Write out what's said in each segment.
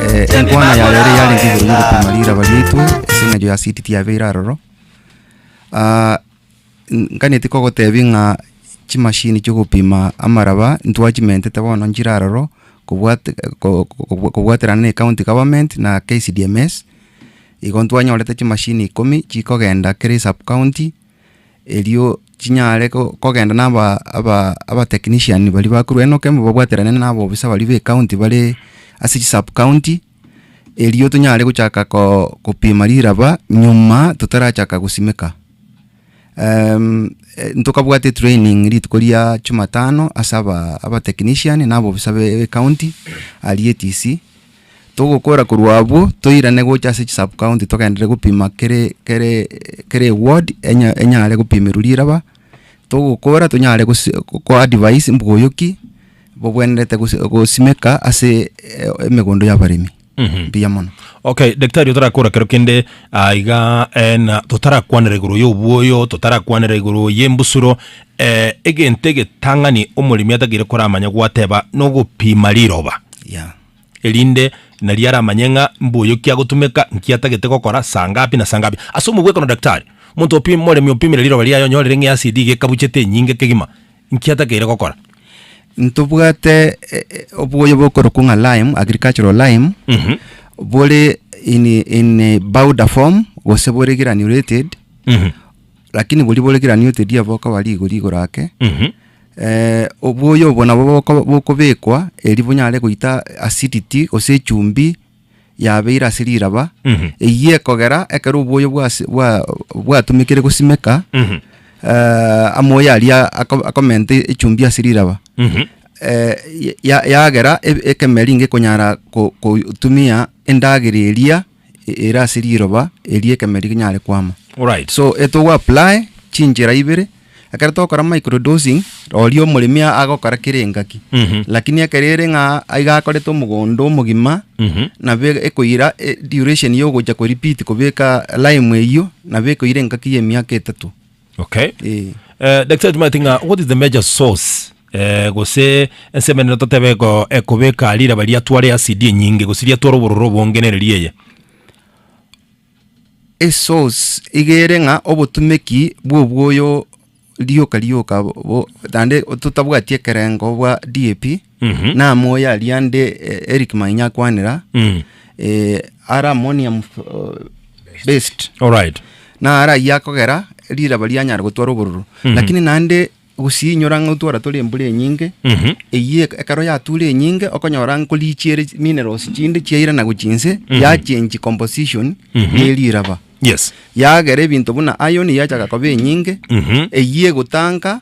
Eh, enkwana ya rero yarenge igoro y'ogopima riraba riaitwe ase eng'encho ya city tiyabeire aroro Ah, n- nkaneti kogotebia ng'a chimashini chiogopima amaraba ntwachimentete bono nchire aroro kobwate- ko- ko- ko- kobwaterana na ecounty government na KCDMS igo ntwanyorete chimashini ikomi chikogenda kera esub county erio chinyare kogenda na aba technician baria bakorwa enoka ime babwaterane na aba officer baria be county bare ase chi sub county erio tonyare gochaka kopima riraba nyuma totarachaka gosimeka. Ntokabwate etraining rituko ria jumatano ase aba technician na aba officer be county aria etisii. Togokora korwa abwo, toirane gocha ase chisubcounty togenderere gopima kere kere kere eward enya enyare gopimerwa riraba, togokora tonyare gose gokoa advise mboyoki bogwenerete gose gosimeka ase emegondo y'abaremi. Mbuya mono. Okay, daktari otarakora kero kende ah, iga eh, na totarakwanera igoro y'obwoyo, totarakwanera igoro y'embusuro eh, egento egetang'ani omoremi atakeire koramanya gwateba nogopima riroba. Yeah. erinde nario aramanye ng'a mbuya kiagotumeka, nki atagete gokora, saa ngapi na saa ngapi. Ase omogwekano daktari, omonto opim omoremi opimire riroba riaye onyorire ng'a easidi iga ekabuchete enyinge kegima, nki atakeire gokora? Ntobwate eh, eh, oboyo bokorokwa ng'a lime, agricultural lime, Mhm. bore in, in a powder form, gose bore granulated, Mhm. Lakini boria boregeranio oteria bokoba rigori igoro ake, Mhm. eh, oboyo obo nabo boko- bokobekwa eri bonyare goita acidity gose echumbi yabeire ase riraba Mhm. eyio ekogera ekero oboyo bwase- bwa- bwatumekire gosimeka Mhm. eh, amoyo aria ako- akomenta echumbi ase riraba Mhm. eh, ya- yagera e- ekemeri nigo ekonyara ko- kotumia endagera eria ere ase riroba erio ekemeri rinyare kwama. Alright, so etogo apply chinchera ibere ekero tokora microdosing oria omoremi a- agokora kere engaki Mhm. lakini ekero ere ng'a aiga akorete omogondo omogima Mhm. nabo e- ekoira e- duration ya ogocha ko repeat kobeka lime eyio nabo ekoira engaki ya emiaka etato Okay. Eh. Eh, daktari tumati ng'a what is the major source eh, gose ensemenero totebe eko- ekobeka riraba riatware asidi enyinge gose riatware obororo obonge nere rieye esource igere ng'a obotumeki bwobwoyo rioka rioka bo- bo- naende totabwati ekerengo bwa DAP Mhm. namoyo aria ande eh, Eric Mainya akwanera Mm. eh, ara ammonium uh, based Alright. na ara ayia akogera riraba rianyara gotwara obororo lakini naende gusinyora ng'a otwara tore embura enyinge Mhm. eyie ekero yatura enyinge okonyora nkorichiere minerals chinde chiaira na gochinse yachange composition ye riraba Yes. yagera ebinto buna iron yachaga koba enyinge Mhm. eyie egotanga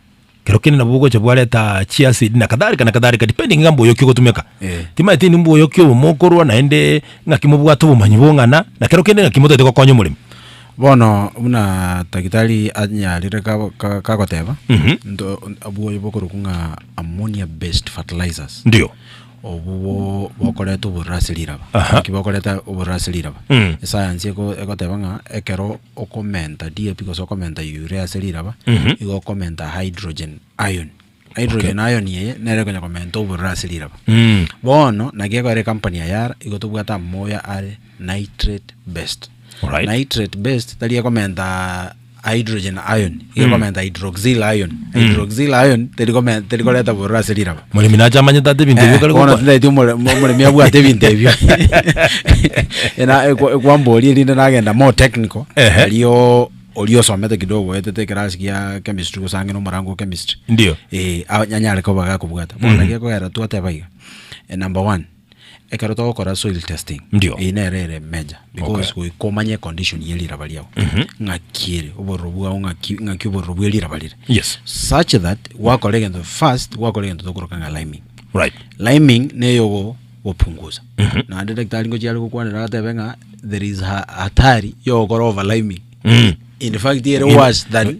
kero kende nabo bogocha bwareta chi acid na kadhalika na kadhalika depending ng'a mboyoki ogotumeka Eh. timaeti ni mboyoki obo mokorwa naende ng'aki mobwate obomanyi bong'ana na kero kende ng'aki motaete gokonya omoremi Bono buna tagitari anyarire kabo- ka- kagoteba Mhm. nto- abwo oyo bokorokwa ng'a ammonia based fertilizers ndio Obwo bo bokoreta obororo ase riraba. Aha. Naki bokoreta obororo ase riraba. Mm. Esayansi eko- egoteba ng'a ekero okomenta DAP gose okomenta urea ase riraba, Mhm. igo okomenta hydrogen ion. Hydrogen ion eye, nere ekonya komenta obororo ase riraba. Mm. Bono, naki ekogera ecompany ya Yara, igo tobwate amoyo are nitrate based. Alright. Nitrate based, tari ekomenta hydrogen ion iga komenta hydroxyl ion hydroxyl ion teri kome- teri koreta bororo ase riraba Moremi nache amanyete ate ebinto ebio kare bono gokora. tindaeti omore- mo- omoremi abwate ebinto ebio Ena- ekwa- ekwamboria erinde nagenda more technical Ehe. nario oria osomete kidogo oetete ekerasi gia chemistry gose ang'e na omorango o chemistry Ndio. eh, a- anyare koba gakobwata bono naki ekogera twateba iga number one Ekero togokora soil testing Ndio. eye nere ere major because Okay. goika omanye condition ye riraba riao ng'aki ere obororo bwao ng'aki ng'aki obororo bwe riraba rire Yes. such that gwakora egento first gwakora egento tokoroka ng'a liming Right. liming neyo go gopunguza naende daktari ngochia are gokwanera agatebe ng'a there is ha- hatari yogokora over liming Mm. in fact ere worse than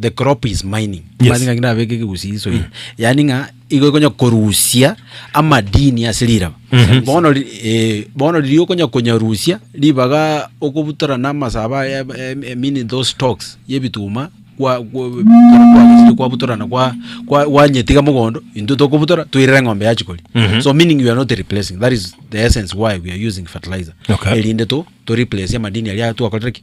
The crop is mining. Yes. Mazi ng'a ngina abeke kigusi iso. Yaani ng'a igo ikonya korusia amadini ase riraba. Bono ri- eh, bono riria okonya konyarusia ribaga okobutora na amasaba ya- em- em- meaning those stocks ya ebituma kwa kwa- kwagachire kwabutora na kwa kwa gwanyetiga mogondo intwe tokobutora toirere eng'ombe yachi koria. So meaning you are not replacing. That is the essence why we are using fertilizer. Okay. Erinde to to replace amadini aria twakorire ki?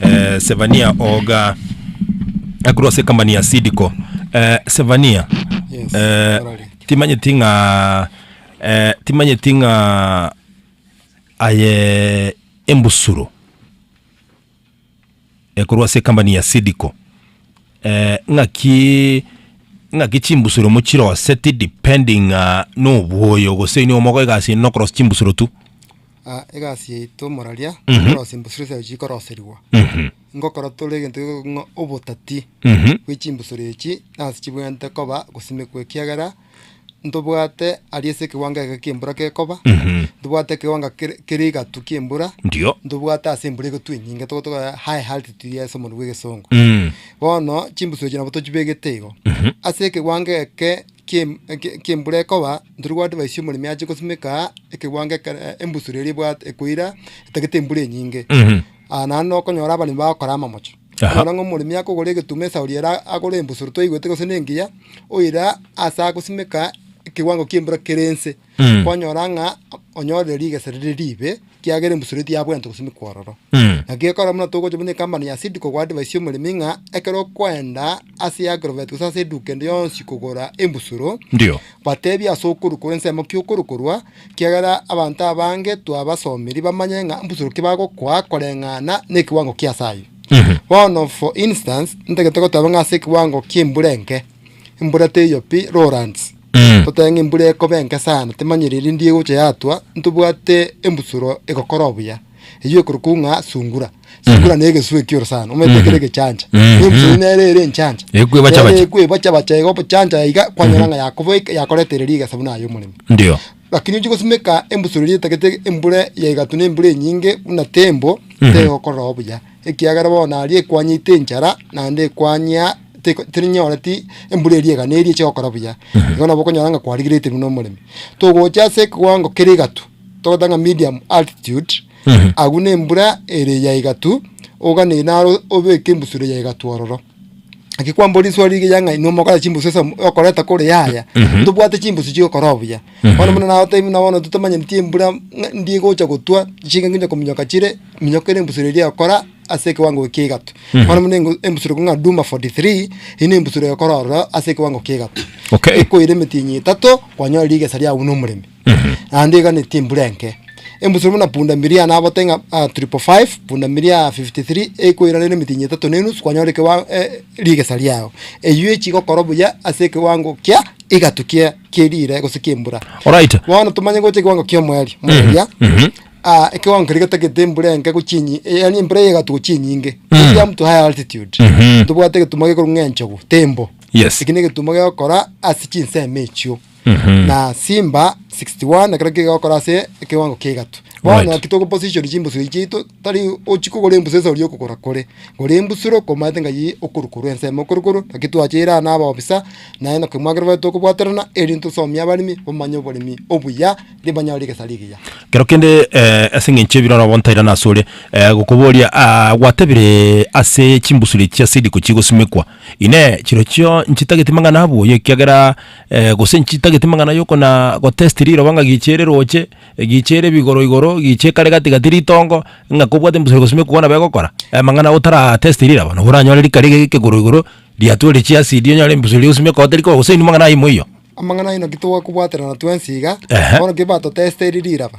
eh, Sevania Oga akorwa ase ekambani ya Sidco eh, Sevania Yes, eh, orari. timanyeti ng'a eh, timanyeti ng'a aye embusuro ekorwa ase ekambani ya Sidco eh, ng'aki ng'aki chimbusuro mochiroseti depending ng'a nobwoyo gose nigo mogoika ase nokorosia chimbusuro tu ah egasi yaito moraria, koroswa embosoro chiaye chikoroserigwa, ngokora tore egento geko ng'a obotati bwe chimbosoro echi nasi chibwenerete koba gosimekwa ekiagera, ntobwate aria ase ekewango eke kia embura gekoba, ntobwate ekewango kere kere egatu kia embura, Ndio. ntobwate ase embura egotwa enyinge togo togo high altitude ase omonwa bwa egesongo. Bono chimbosoro echi nabo tochibegete igo, ase ekewango eke. kiembura ekoba, ntoria gwadvaisia omoremi ache gosimeka ekegwango ekero embusuro eria ebwate ekoira etagete embura enyinge. Aa naende nokonyora abaremi bagokora amamocho. Aha. Okonyora ng'a omoremi akogora egetuma esauri ere agore embusuro twaigwete gose nengiya, oira ase agosimeka ekewango kiembura kere nse. Mm. kwanyora ng'a onyorire rigesa rire riibe, ekiagera embusuro etiyo yabwente gose mikwororo. Mm. Naki ekero buna togocha buna ekampani ya Seed kogwa advice y'omoremi ng'a ekero okoenda ase y'Agrovet gose ase eduka ende yonsi kogora embusuro, Ndio. batebi ase okorokora ensemo ki okorokorwa, ekiagera abanto abange twabasomiri bamanye ng'a mbusuro ki bagokoa koreng'ana nekiwango ki ase ayio. Mhm. Bono for instance, ntagete goteba ng'a ase ekiwango ki'embura enke, embura teiyo pi, lowlands, Mm. Toteba ng'a embura ekoba enke sana, timanyire erinde egocha yatwa, ntobwate embusuro egokora obuya, eyio ekorokwa ng'a sungura. Sungura na egesu ekioro sana, omanyete ekero egechancha. Mhm. Na embusuro nere ere enchancha. Ekwebacha Nere bacha. ekwebacha bacha iga obochancha iga, kwanyora ng'a yakoboika, yakoretere riga esabu naye omoremi. Ndio. Lakini ochi gosimeka embusuro eria etagete embura ya egatu na embura enyinge buna tembo, Mhm. tegokora obuya. ekiagera bono aria ekwanyete enchara, naende ekwanyia teko terinyoreti embura eria egane eria eche gokora buya. Igo nabo okonyora ng'a kwarigerete buna omoremi. Togocha ase ekewango kere egatu, togoteba ng'a medium altitude, agwo na embura ere ya egatu, oganere naro obeke embusuro ya egatu ororo. Naki kwambora risoa rige ya ng'a inwe mokora chimbusu ase omo- okoreta kore yaya tobwate chimbusu chi'ogokora obuya bono buna nagotebi buna bono totomanyeretie embura ng'a ndie egocha gotwa chinga nginye kominyoka chire minyoko ere embusuro eria egokora ase ekewango ekia egatu bono buna engo- embusuro ekong'a duma 43 eyio na embusuro egokora ororo ase ekewango kia egatu Okay. ekoira emetienyi etato kwanyora rigesa riago buna omoremi naende eganetie embura enke. Embusuro buna punda miria nabote ng'a ah, triple five, punda miria 53 ekoirana n'emetienyi etato na enusu kwanyora ekewa eh, rigesa riao. Eyio echi igokora buya ase ekewango kia egatu kia kierire gose kiembura. Alright. Bono tomanye gocha ekewango kia omoerio. Moeria. Ah, ekewango keria getagete embura enke gochia enyi, eh, yaani embura ya egatu gochia enyinge. Gochia mtu high altitude. Tobwate egetumo gekorwa ng'a enchogu, tembo. Yes. Eki negetumo gegokora ase chinsemo echio. na Simba 61 ekero kegokora ase ekewango kia igato. Bono Right. naki togo position chimbusuro echi chiaito tari ochi kogora embusuro ase oria okogora kore. Gora embusuro komaete ngai okoru korwa ensemo okoru korwa naki twachire aa na abaofisa naye na kemwagera baito kobwaterana erinde tosomie abaremi bamanye oboremi obuya ri banyore egesari egiya. Kero kende eh, ase eng'encho ebiroro bono ntairana ase ore eh, gokoboria ah, gwatebire ase chimbusuro echi ase riko chigosimekwa Inee, chirochio nchitagete mang'ana abuya ekiagera gose nchitageti mang'ana yoko na gotesti riroba ng'a giichi ere roche, giichi ere bigoro igoro, giichi ekare gati gati ritongo, ng'a kobwate mbusore gose mekugwa nabo egokora, amang'ana otara testi riraba, nabo oranyore rikare iga ekegoro igoro, riatware chiasidi onyore mbusori gose mekogwa teri koba gose inwe mang'ana aye moiyo. Amang'ana ayio naki togakobwaterana twensi iga, Ehe. bono ki batotesteri riraba.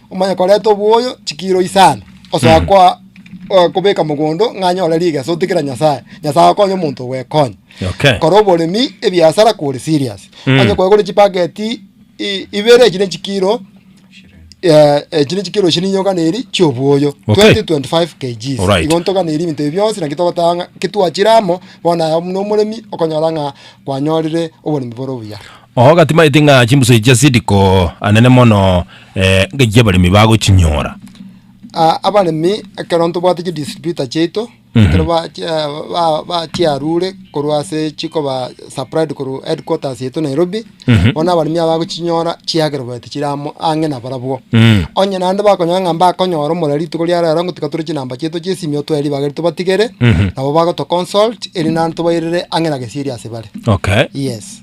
Omanye koreta oboyo chikiiro isano, osoa koa eh, kobeka mogondo ng'a anyore rigeso otikira Nyasaye. Nyasaye akonye omonto ogwekonya. Okay. Kora oboremi ebiasara kore serious. Mm. Onye kwegore chipageti i- ibere echire chikiiro eh, echire chikiiro chirinyoka neri chioboyo Okay. 2025 kgs. Alright. Igo ntoka neri ebinto ebi bionsi naki togotanga ng'a kitwachire amo bono aye buna omoremi okonyora ng'a kwanyorire oboremi bore obuya. Oo gatimaeti ng'a chimbusoi chia Sidiko anene mono eh, ngaki chi'abaremi bagochinyora. Ah, abaremi ekero ntobwate chi distributor chiaito ekero ba chi- ah, ba- ba chiarure korwa ase chikoba supplied korwa headquarters yaito Nairobi bono abaremi aba bagochinyora chiagera baeti chire amo ang'e na barabwo Mm. onye naende bakonyora ng'a mbakonyora omorero rituko ria rero ngotiga tore chinamba chiaito chia esimio twaye ribaga erio tobatigere nabo bagotoconsult erinde naende tobairere ang'e na gesieri ase bare Okay. yes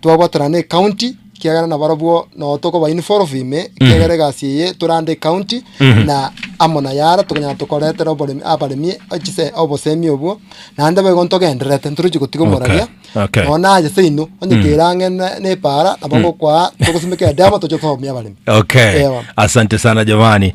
Twabwatana ne county ekiagera nabarobwo no tokoba involve ime ekiagera egasi eye tore under county na amo na yara tokonyara tokoretera oboremi abaremi eh, chise obosemi obwo naende boigo ntogendererete ntorochi gotiga omoraria Okay, okay. nonye naye seino onye kera ang'e ne- nepara nabo ngokwaa togosimeka edemo toche tohomia abaremi Okay. Ewa. Asante sana jamani.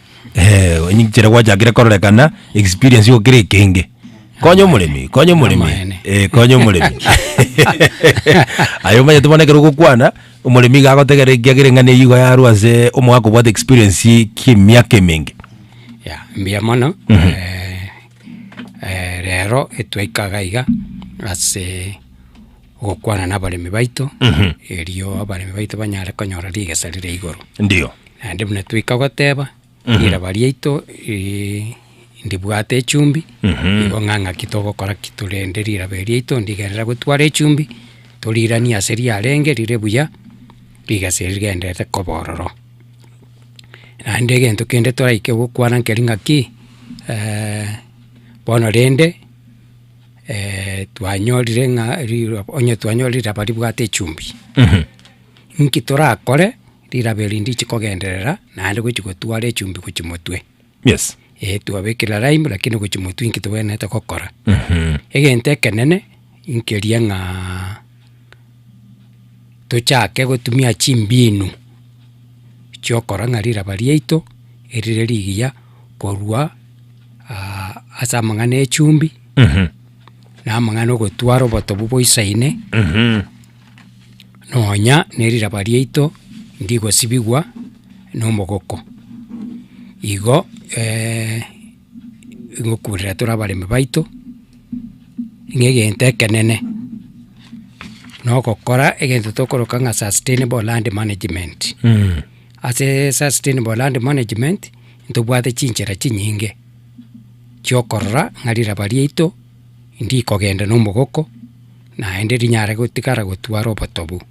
Eeh, onye ekero gwachakire kororekana, experience igo kere ekenge. Konya omoremi, konya omoremi. Amaene. Eh, konya omoremi. Aye omanyete bono ekero ogokwana, omoremi iga agotegerera ekiagera eng'ana eyio igo yarwa ase omogaka obwate experience ki'emiaka emenge. Ya, mbuya mono, eh, eh, rero etwaika iga iga ase. gokwana nabaremi baito, Mhm. erio abaremi baito banyare konyora rigesa rire igoro. Ndio. Naende buna twaika goteba, Mhm. riraba riaito ri- ndibwate echumbi, Mhm. nigo ng'a ng'aki togokora ki tore rende riraba eri riaito ndigenderere gotwara echumbi, toriranie ase riarenge rire buya, rigesa eri rigenderere koba ororo. Naende egento kende toraike gokwana nkeri ng'aki, bono rende. twanyorire ng'a riroba onye twanyorire riraba ribwate echumbi, inki torakore riraba eri ndiche kogenderera naende gochia gotwara echumbi gochia motwe. Yes. Eeh twabekera lime lakini gochia motwe inki togwenerete gokora? Egento ekenene, inkeria ng'aa. tochake gotumia chimbinu chiokora ng'a riraba riaito erire rigiya korwa ase amang'ana ya echumbi, na amang'ana ogotwara obotobu boisaine, nonya ne riraba riaito ndigosibigwa nomogoko. Igo. ngokurera tore abaremi baito, ng'a egento ekenene, na ogokora egento tokoroka ng'a sustainable land management. Asee sustainable land management, ntobwate chinchera chinyinge, chiokorora ng'a riraba riaito ndikogenda na omogoko, naende rinyare gotigara gotwara obotobu.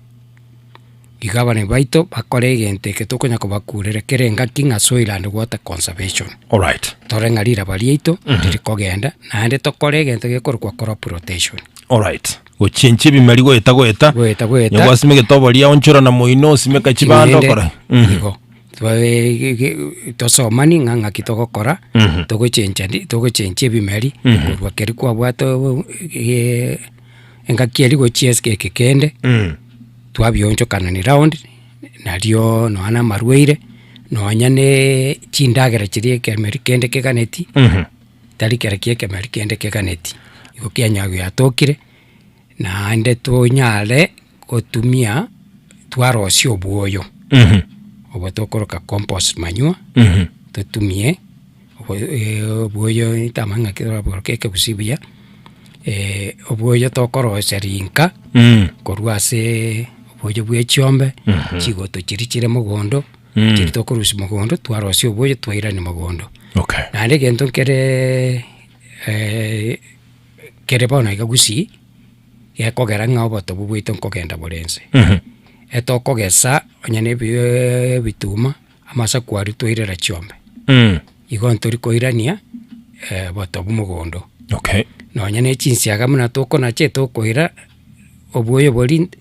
Iga abanene baito bakore egento eke tokonya kobakurera kera engaki ng'a soiland water conservation. Alright. Tore ng'a riraba riaito riri kogenda naende tokore egento gekorokwa crop rotation. Alright. Gochenchia ebimeri goeta goeta. Goeta goeta. Onye gwasima egetoboria onchora na moino osimeka chibando Ching'ende, okore. Mhm. Igo. Twae- ge- ge- tosomani ng'a ng'aki togokora, togochencha ndi- togochenchia ebimeri korwa keri kwabwate obo- ge- engaki eria gochia esike eke kende, twabionchokana ni round, nario nonya na amarwaire, nonya naaa chindagera chiria ekemereri kende keganeti, tari kera kia ekemereri kende keganeti. Igo kianyaa giatokire, naende tonyare. gotumia twarosia obwoyo obo tokoroka compost manure totumie obwoyo ntamanya ng'a ekero orabworokia ekegusii buya obwoyo tokorosia rinka korwa asee obwoyo bwa echiombe chigoto chiria chire mogondo chiria tokorusia mogondo twarosia obwoyo twairania mogondo. Naende egento nkeree kere bono iga gusii. gekogera ng'a obotobu bwaito nkogenda bore inse. Etokogesa onye na ebi- e- ebituma, amasaku aria twairera chiombe, igo ntori koirania obotobu mogondo. Okay. Nonye na echinsiaga buna tokonache tokoira, obuoyo boria nte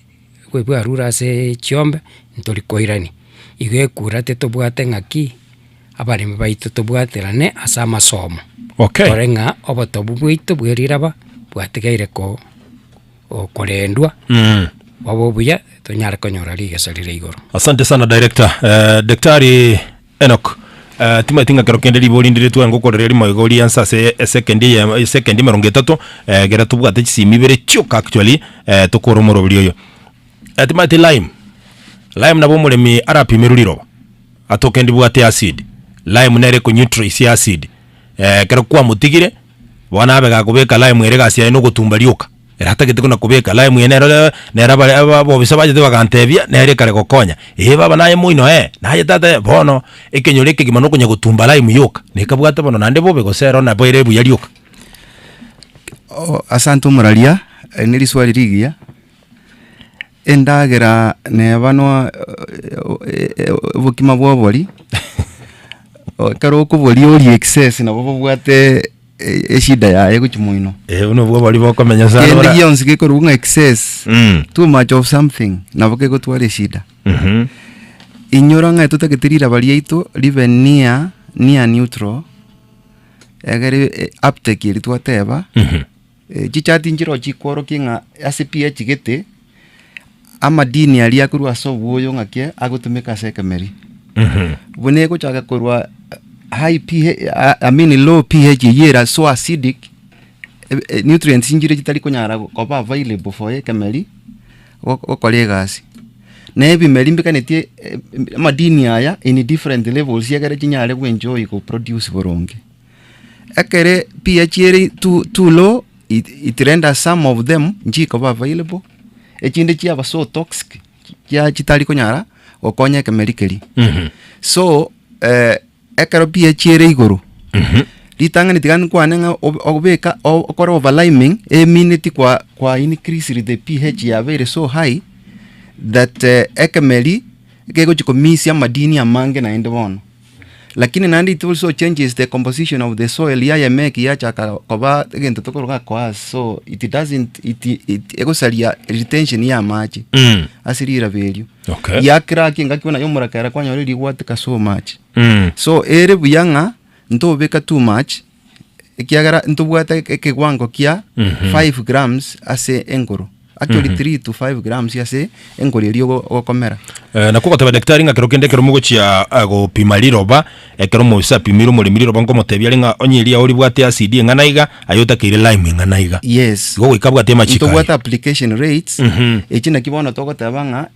bwe- bwarure ase chiombe, ntori koirania. Igo ekura titobwate ng'aki. abaremi baito tobwaterane ase amasomo, Okay. tore ng'a obotobu bwaito bwe riraba bwatigaire ko okorendwa Mm. bobe obuya tonyare konyora rigesa rire igoro. Asante sana director. Eh, Daktari Enoch eh, timanyeti ng'a kero kende riba orindiretwe ngokorere rimo iga orianse ase esecond eye esecond emerongo etato eh, ekero tobwate chisimi ibere chioka actually eh, tokore omoroberi oyo eh, timanyeti lime lime nabo omoremi arapimerwe riroba Atoke ndibwate acid. Lime nere eko neutralize acid. Eh, ekero kwamotigire, bono abe gakobeka lime ere egasi yaye na ogotumba rioka. Ere atagete buna kobeka lime eye nero eh, nero abare aba abobisa bachete bagantebia, nere ekare gokonya. Ee baba naye moino ee, naye tata ee, bono ekenyoro ekegima na okonya gotumba lime yoka. Na ekabwate bono naende bobe gose ero nabo ere buya rioka. O asante omuraria, eh, ne riswali rigiya. Endagera neba no obokima bwa obori, ekero okoboria orie excess nabo bobwate eshida yaye gochia moino. Eh, buna obwo obori bokomenya sana Kende ora- gionsi gekorwa ng'a excess, Mm. too much of something nabo kegotwara eshida. Mhm. Inyora ng'a totagete riraba riaito ribe near, near neutral, egere eh, uptake eri twateba, Mhm. Chichati nchirochio chikworokia ng'a ase pi echigete amadini aria akorwa ase obwoyo ng'aki agotumeka ase ekemeria. Buna egochaka korwa high pH, I mean low pH eyio ere so acidic, nutrients nchiria chitari konyara koba available for ekemeria gokora egasi. Na ebimeri mbikanetie amadini aya in different levels ekere chinyare go enjoy ko produce boronge. Ekere pi yachieri tu too low, it it render some of them nchikoba available, echinde chiaba so toxic chia chitari konyara gokonya ekemeri keria. So eh, ekero pi yachiere igoro, ritang'ani tiga nkwane ng'a ob- obeka o- okore over liming emineti kwa kwa increase the PH yaba ere so high that eh, ekemeri gegochi komisia amadini amange naende bono. Lakini naende it also changes the composition of the soil yaye make yachaka koba egento tokoroga coarse so it doesn't it, it egosaria retention ya amache Mm. ase riraba erio Okay. yakera ki engaki bono yomorakera kwanyora rigwateka so much Mm. so ere buya ng'a ntobeka too much ekiagera ntobwate e- ekewango kia 5 grams ase engoro actually 3 to 5 grams ase engoro eria ogo- ogokomera Eh, nakwo goteba daktari ng'a kero kende ekero mogochia ah, gopima riroba ekero omogusi apimire omoremi riroba nkomotebia are ng'a onye eria oribwate acid eng'ana iga aye otakeire lime eng'ana iga yes igo goika abwate amachiko ntobwate aye application rates echi naki bono togoteba ng'a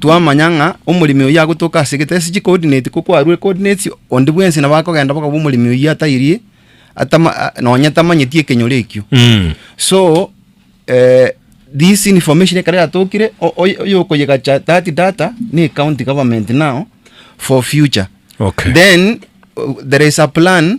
twamanya ng'a omoremi oyio agotoka ase egetese chi coordinate ko kwarure coordinates onde bwensi nabo akogenda bokaba omoremi oyio atairie atama nonye tamanyeti ekenyoro ekio Mm. so eh, this information ekero yatokire o- oy- oyokoyegacha that data ne county government now for future Okay. then uh, there is a plan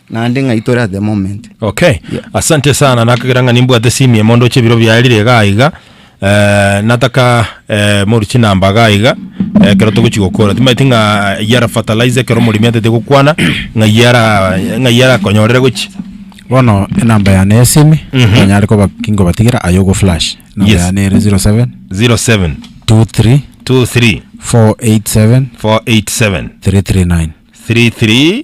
Naende ng'a itore at the moment. Okay. Yeah. Asante sana nakagera ng'a nimbwate simie mondo oche biro biarire iga iga. Eh, nataka eh, moru chinamba ga iga eh, kero togochi gokora timaeti ng'a yara fertilizer kero omorimi atete gokwana ng'a yara ng'a yara konyorere gochi bono enamba yane ya esimi Mhm. onyare koba kinkobatigera aye ogo flash enamba Yes. yane ere 07 07 23 23 487 487 339 33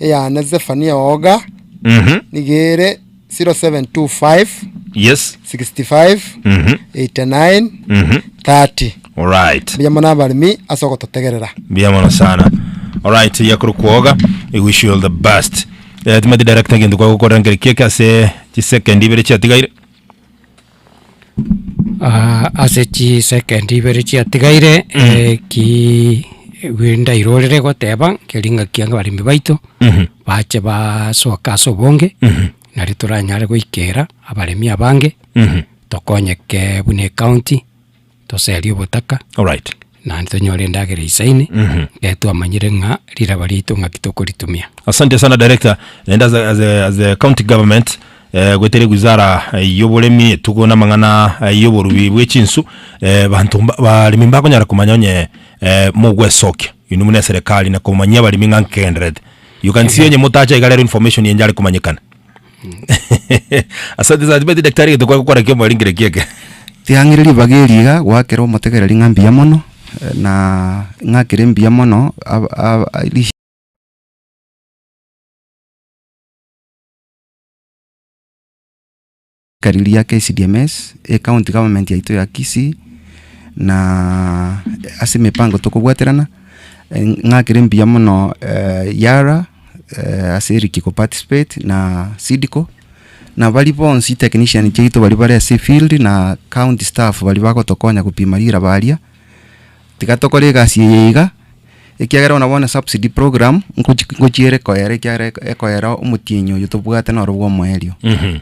Eyane Zefania oga, nigo ere 0725 Yes. 65 89 30. Alright. Mbuya mono abaremi ase ogototegerera. Mbuya mono sana. Alright, yakuru kwoga. I wish you all the best. Eh, timati director gento kwa gukora ngeri kieke ase chisekendi ibere chiatigaire. ase chisecond ibere chiatigaire ki ndaire orere goteba keri ng'aki abaremi baito, bache basoke ase obonge, nari toranyare goikera abaremi abange, tokonyeke buna ecounty. toserie obotaka, Alright. naende tonyore endagera isaine, ekero twamanyire ng'a riraba riaito ng'aki tokoritumia. Asante sana director, naende as a, as a, as a county government eh, goetera ewizara eh, y'oboremi etugo namang'ana eh, y'oborubi bw'echinsu eh, banto mba- abaremi mbakonyara komanya onye eh, mogwesokia inwe muna eserekari na komanyia abaremi ng'a nkegendererete you can see onye motacha iga rero information enchare komanyekana Asante sana tibeti daktari geto kwagokora kia omwaringire kia eke. Tiang'ire ribaga eri iga goakera omotegereri ng'a mbuya mono, na ng'a kere mbuya mono ab- ab- rish- ka riria KCDMS, ecounty government yaito ya Kisii, na ase emepango tokobwaterana, ng'a kere mbuya mono Yara. eh, ase eriki ko participate na Sidco na bari bonsi technician chiaito bari bare ase field na county staff bari bagotokonya gopima riraba aria tiga tokore egasi eye iga ekiagera bono bono subsidy program nkochi nkochiere koyera ekiagera eko- ekoyera omotienyi oyo tobwate noro bwa omoerio Mhm.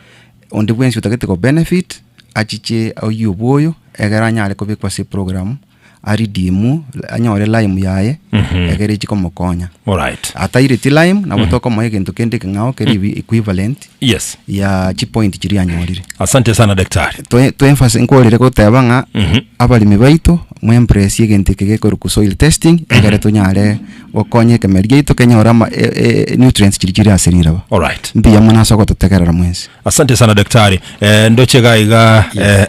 onde bwensi otagete ko benefit achiche oyio bwoyo egere anyare kobekwa ase eprogramu. aridimwe, anyore lime yaye, egere echi komokonya. Alright. Atairetie lime, nabo tokomoa egento kende ekeng'ao keri ebi- equivalent Yes. ya chipoint chiria anyorire. Asante sana daktari. Toe- toemphasi- nkorire goteba ng'a abaremi baito moembrace egento eke gekorokwa soil testing egere tonyare gokonya ekemeri giaito kenyore ama- e- e- nutrients chiria chiri ase riraba. Alright. Mbuya mono ase ogototegerera mwensi. Asante sana daktari eh, ndoche iga iga eh,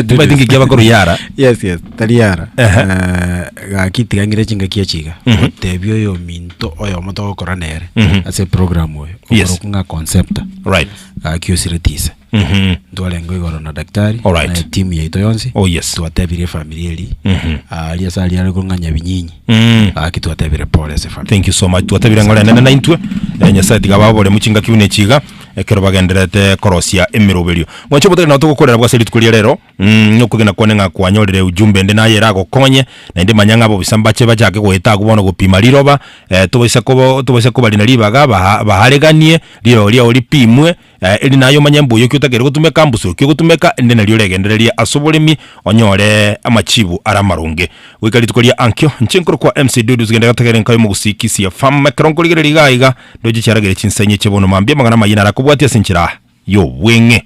timaeti ng'iki abakoro yara yes yes tari yara Ehe. Eh, gaki tigang'ire chingaki echi iga Mhm. otebi oyo ominto oyomo togokora nere Mhm. ase program oyo Yes. okorokwa ng'a concepta right gaki osireti ise Mhm. ntwarengwa igoro na daktari Alright. na timu yaito yonsi Oh, yes. twatebire efamiri eri Mhm. ari ase ari ariko ng'a nyabinyinyi Mm. gaki twatebire pole ase famiri thank you so much twatebire ng'ore nene naintwe eh, nyasaye tiga babore muchingaki buna echiga Ekero bagendererete korosia emeroberio, mwanche obo tari nao togokorera bw'ase rituko ria reero, mm, na okogena kwane ng'a kwanyorire ujumbe ende naye eragokonye, naende manya ng'a abobisa mbache bachake goeta agwo bono gopima riroba, eh, tobaisa koba tobaisa koba rina ribaga baha bahareganie, rirogo riao ripimwe, eh, eri naye omanye mbuya ki otagere gotumeka, mbusu ki ogotumeka, ende nario oregendererie ase oboremi onyore amachibu ara amaronge. Goika rituko ria ankio, inche nkorokwa MC Dudu, ase gento egento kere nkayo Mogusii Kisia Farm, ekero nkorigereria iga iga, Ndoche chiaragere chinsenye chie bono mambia amang'ana amayia naro akobwatia ase enchera y'obweng'e.